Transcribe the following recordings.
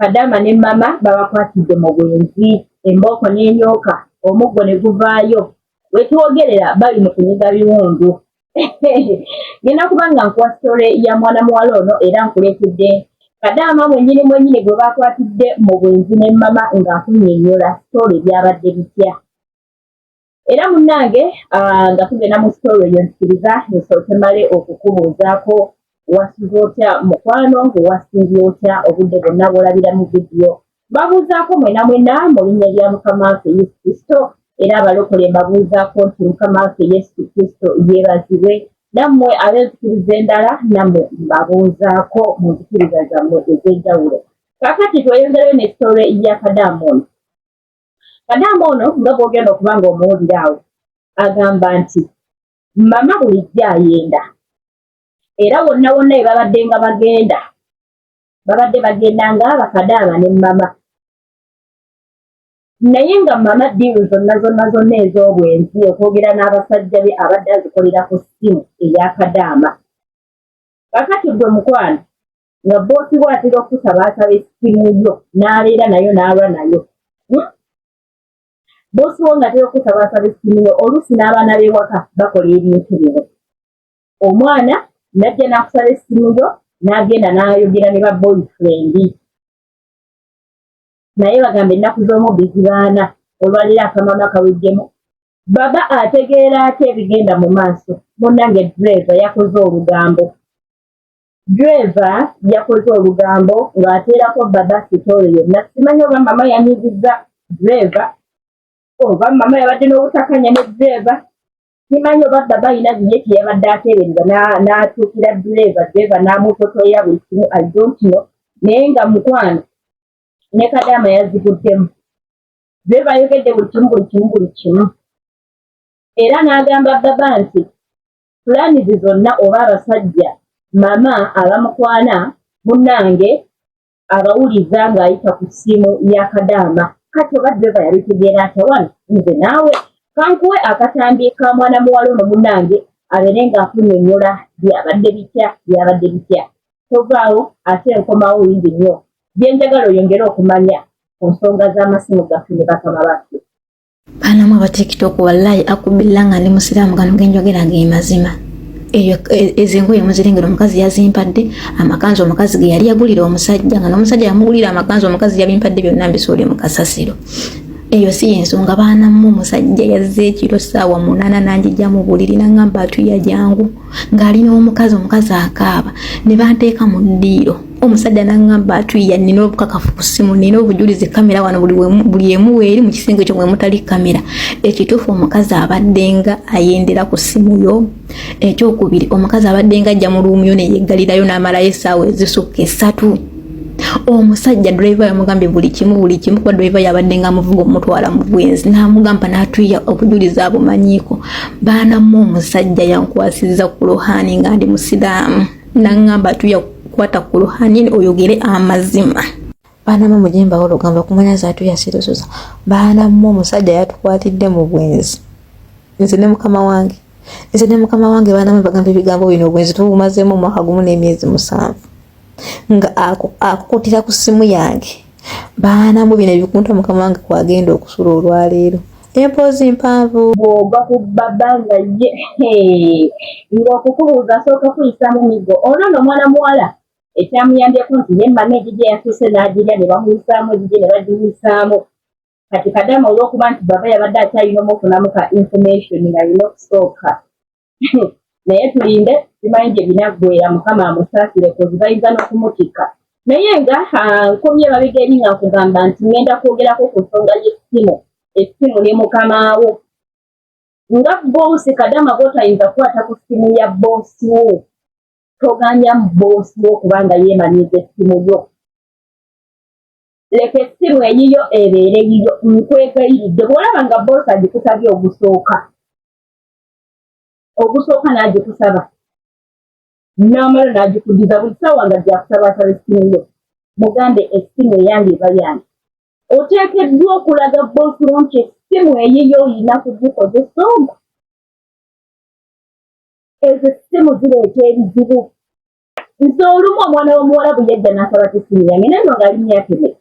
Kadaama ne Mama babakwatidde mu bwenzi, embooko n'enyooka, omuggo ne guvaayo. We twogerera bali mu kunyiga biwundu. Ngenda kuba nga nkuwa sitole ya mwana muwala ono era nkuleetedde Kadaama mwennyini mwennyini gwe baakwatidde mu bwenzi ne Mama ng'akunnyonnyola sitole byabadde bitya. era munnange ah, nga tugenda mu sitoola eyo nzikiriza nsooke male okukubuuzaako wasuze otya mukwano wasiibye otya obudde bwonna bwolabira mu vidiyo babuuzaako mwena mwena mu linnya lya mukama waffe yesu kristo era abalokole mbabuuzaako nti mukama waffe yesu kristo yeebazibwe nammwe ab'enzikiriza endala nammwe mbabuuzaako mu nzikiriza zammwe ez'enjawulo kakati tweyongerayo ne sitoola ya kadaamoni kadaama ono nga bwogenda okuba nga omuwulira awo agamba nti mama bulijjo ayenda era wonna wonna we babadde nga bagenda babadde bagenda nga bakadaama ne mama naye nga mama diiru zonna zonna zonna ez'obwenzi okwogera n'abasajja be abadde azikolera ku ssimu eya kadaama kakati gwe mukwano nga boosi we atera okukutabaasa essimu yo n'aleera nayo n'alwa nayo hmm? boosi wo ng'atera okukutabaasa essimu yo oluusi n'abaana b'ewaka bakola ebintu bino omwana najja n'akusala essimu yo n'agenda n'ayogera ne ba boyfriend naye bagamba ennaku z'omu bizibaana olwaleero akamama kawejjemu baba ategeera ate ebigenda mu maaso munange dreeva yakoze olugambo Ddereeva yakoze olugambo ng'ateerako baba sitoole yonna. Simanyi oba mama yanyigiza ddereeva oba mama yabadde n'obutakanya ne ddereeva. Simanyi oba baba alina ye kye yabadde ateebereza n'atuukira ddereeva, ddereeva n'amutotoya buli kimu I don't know. Naye nga mukwano ne kadaama yaziguddemu. Ddereeva ayogedde buli kimu buli kimu buli kimu era n'agamba baba nti pulaanizi zonna oba abasajja mama abamukwana munange abawuliza ng'ayita ku ssimu ya kadaama kati oba dreva yabitegeera atya wano nze naawe kankuwe akatambi ka mwana muwala ono munange abeere ng'akunyonyola byabadde bitya byabadde bitya tovaawo ate nkomawo wingi nnyo byenjagala oyongere okumanya ku nsonga z'amasimu gaffe ne bakama baffe Bana mwa batiktok wallahi akubilla nga ndi musiraamu gano genjogera ge mazima eyo e, ezo engoye muzirengera omukazi yazimpadde amakanzu omukazi ge yali yagulira omusajja nga n'omusajja yamugulira amakanzu omukazi yabimpadde byonna mbisuule mu kasasiro eyo si yensonga baana mu musajja yazze ekiro ssaawa munaana n'anjija mu buliri n'angamba atuya jangu ng'ali n'omukazi omukazi akaaba ne banteeka mu ddiiro omusajja n'aŋŋamba atuyiya nina obukakafu ku ssimu nina obujulizi kamera wano buli emu weeri mu kisenge ekyo mwe mutali kamera ekituufu omukazi abaddenga ayendera ku ssimu yo ekyokubiri omukazi abaddenga ajja mu luumuyo ne yeggalirayo n'amalayo essaawa ezisukka essatu omusajja driver yamugambye buli kimu buli kimu kuba driver yabadde nga amuvuga omutwala mu bwenzi n'amugamba n'atuya obujulizi abumanyiiko baanamu omusajja yankwasiza ku luhani nga ndi musiraamu nangamba atuya kukwata ku luhani oyogere amazima baana mu mujemba wo lugamba kumanya zaatu yasirusuza baana mu omusajja yatukwatidde mu bwenzi nze ne mukama wange nze ne mukama wange baana mu bagamba ebigambo bino obwenzi tubumazeemu omwaka gumu n'emyezi musanvu nga akukutira ku simu yange baana mu bino ebikunta mukama wange kwagenda okusula olwaleero empoozi mpanvu bwoga ku baba nga ye ngaokukubuuza asooka kuyisamu migo ono no omwana muwala ekyamuyambyeko nti ye mama egigye yasuuse n'agirya ne bamuyisaamu egigye ne bagiyisaamu kati kadama olwokuba nti baba yabadde akyayina omufunamu ka information nga yina okusooka naye tulinde simanyi gye binaggwera mukama amusaasire kuzibayinza n'okumutikka naye nga ah, nkomye babega eri nga nkugamba nti ŋŋenda kwogerako ku nsonga y'essimu essimu ne mukamaawo nga boosi kadama bwotayinza kukwata ku ssimu ya boosi wo toganya mu boosi wo kubanga yeemanyiza essimu yo leka essimu eyiyo ebeere yiyo nkwegayiridde bw'olaba nga boosi agikusabye ogusooka ogusooka n'agikusaba n'amala n'agikudiza buli saawa nga gyakusaba asaba essimu yo mugambe essimu eyange eba yange oteekeddwa okulaga boosi wo nti essimu eyiyo olina kugikozesa omu ezo essimu zireeta ebizibu nze olumu omwana w'omuwala bwe yajja n'asaba ku essimu yange naye no ngaali myaka emeka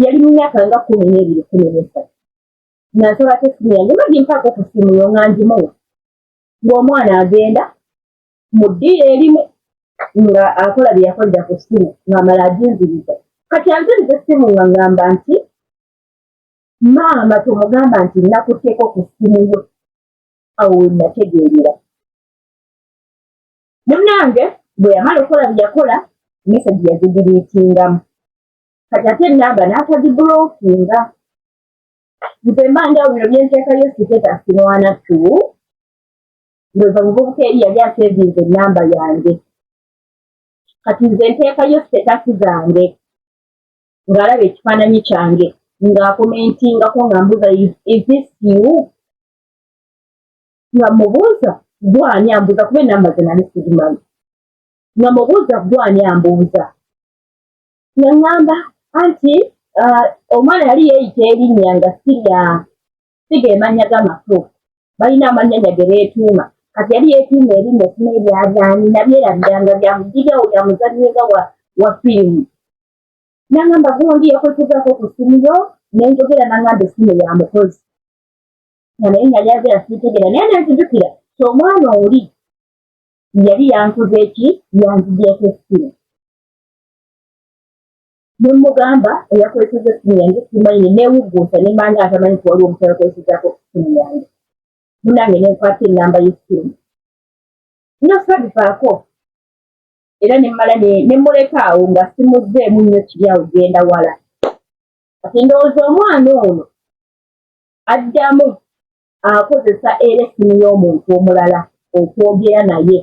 yali mu myaka nga kumi n'ebiri kumi n'esatu nasaba tesimu yange mba gimpaako ku simu yo nga ngimuwa ng'omwana agenda mu ddiiro erimu nga akola bye yakolera ku simu ng'amala aginziriza kati anziriza essimu nga ngamba nti maama tomugamba nti nakuteeko ku simu yo awo wenategeerera munange bwe yamala okukola bye yakola mesagi yazigiriitingamu kati ate enamba n'atagibulokinga nze mbanja bino byenteeka yo siteta sirwana tu ndoza muvubuka eri yali asevinze enamba yange kati nze nteekayo sitetasi zange ng'alaba ekifaananyi kyange ng'akomentingako nga mbuuza isisiu nga mubuuza gwani ambuuza kuba enamba ze nali sigimanyi nga mubuuza gwani ambuuza naŋŋamba anti uh, omwana yali yeeyita erinnya nga sirya siga emannya g'amatuufu balina amannyanya ge beetuuma kati yali yeetuuma erinnya sina ebyabyani nabyerabiranga byamugigawo bya muzannyi nga wa firimu naŋŋamba gundi yakwekuzako ku ssimu yo ne njogera naŋŋamba essimu ya mukozi nga naye nali agera siitegeera naye nenzijukira ti omwana oli yali yankuza eki yanzigyeko essimu ne mmugamba eyakozeseza essimu yange simanyi ne neewugguusa ne manya atamanyi nti waliwo omuntu yakozesezako essimu yange munange ne nkwata ennamba y'essimu nyo sabivaako era ne mmala ne mmuleka awo nga simuzzeemu nnyo kiri awo genda wala kati ndowooza omwana ono addamu akozesa era essimu y'omuntu omulala okwogera naye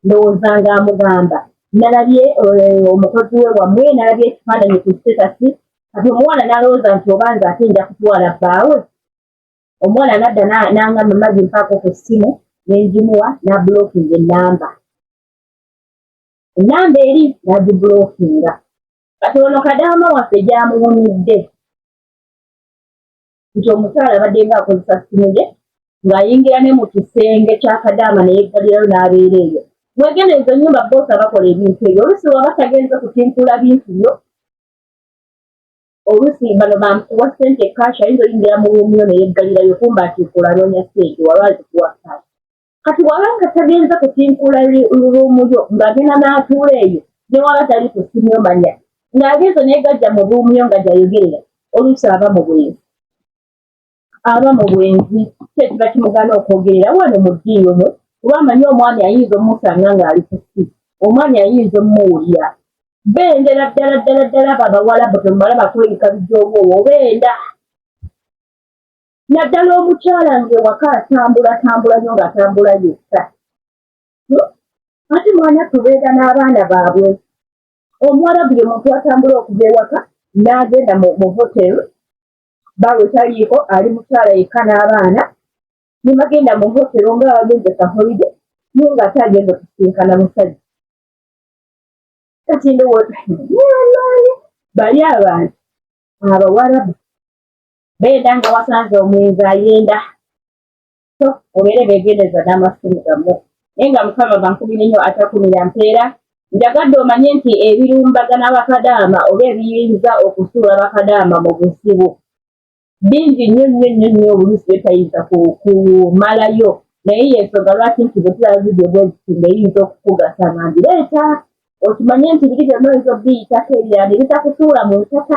ndowooza nga amugamba nalabye eh, omukozi we wamwe nalabye ekifaananyi ku sitetasi kati omuwala nalowooza nti oba nze ate nja kutwala bbaawe omuwala nadda nangamba mazi mpaako ku ssimu nenjimuwa nabulokinga enamba enamba eri nagibulokinga kati ono kadaama waffe gyamuwumidde nti omukyala abaddenga akozesa simu ye ng'ayingira ne mu kisenge kya kadaama neyeggalirayo n'abeera eyo mwegenda ezo nyumba boosi abakola ebintu ebyo oluusi waba tagenze kutimpula bintu byo oluusi bano bamukuwa sente kash ayinza oyingira mu rumu yo neyeggalirayo kumba nti kulaanonya sente waba azikuwa kash kati waba nga tagenze kutinkula luumu yo ng'agenda n'atuula eyo ne waba tali ku simu omanya ng'agenze negajja mu luumu yo nga gyayogerera oluusi aba mu bwenzi aba mu bwenzi kyekiba kimugana okwogerera wano mu ddiini omu kuba amanyi omwami ayinza omusanga ng'ali ku si omwami ayinza omuwulira bendera ddala ddala ddala babawalabu temumala bakweyika bijoowowo benda naddala omukyala ng'ewaka atambula tambula nyo ng'atambula yekka hmm? ate mwana tubeera n'abaana baabwe omuwarabu ye muntu atambula okuva ewaka n'agenda mu hoteri baawe taliiko ali mukyala yekka n'abaana nemagenda mu hotero nga abagenze kaholide naye nga ate agenda okusinkana musajja kati ndowooza bali abantu abawarabu beeda nga wasanze omwenzi ayenda so obeere begendeza n'amasimu gamu naye nga mukama bankubire nnyo atakumira mpeera njagadde omanye nti ebirumbagana bakadaama oba ebiyinza okusuula bakadaama mu buzibu bingi nnyo nnyo nnyo nnyo oluusi byetayinza kumalayo naye yensonga lwaki nti bwetulaba vidiyo bweziti ngeyinza okukugasa nga ngireeta okimanye nti biri byonna oyinza obiyitako ebirala ne bitakusuula mu ntaka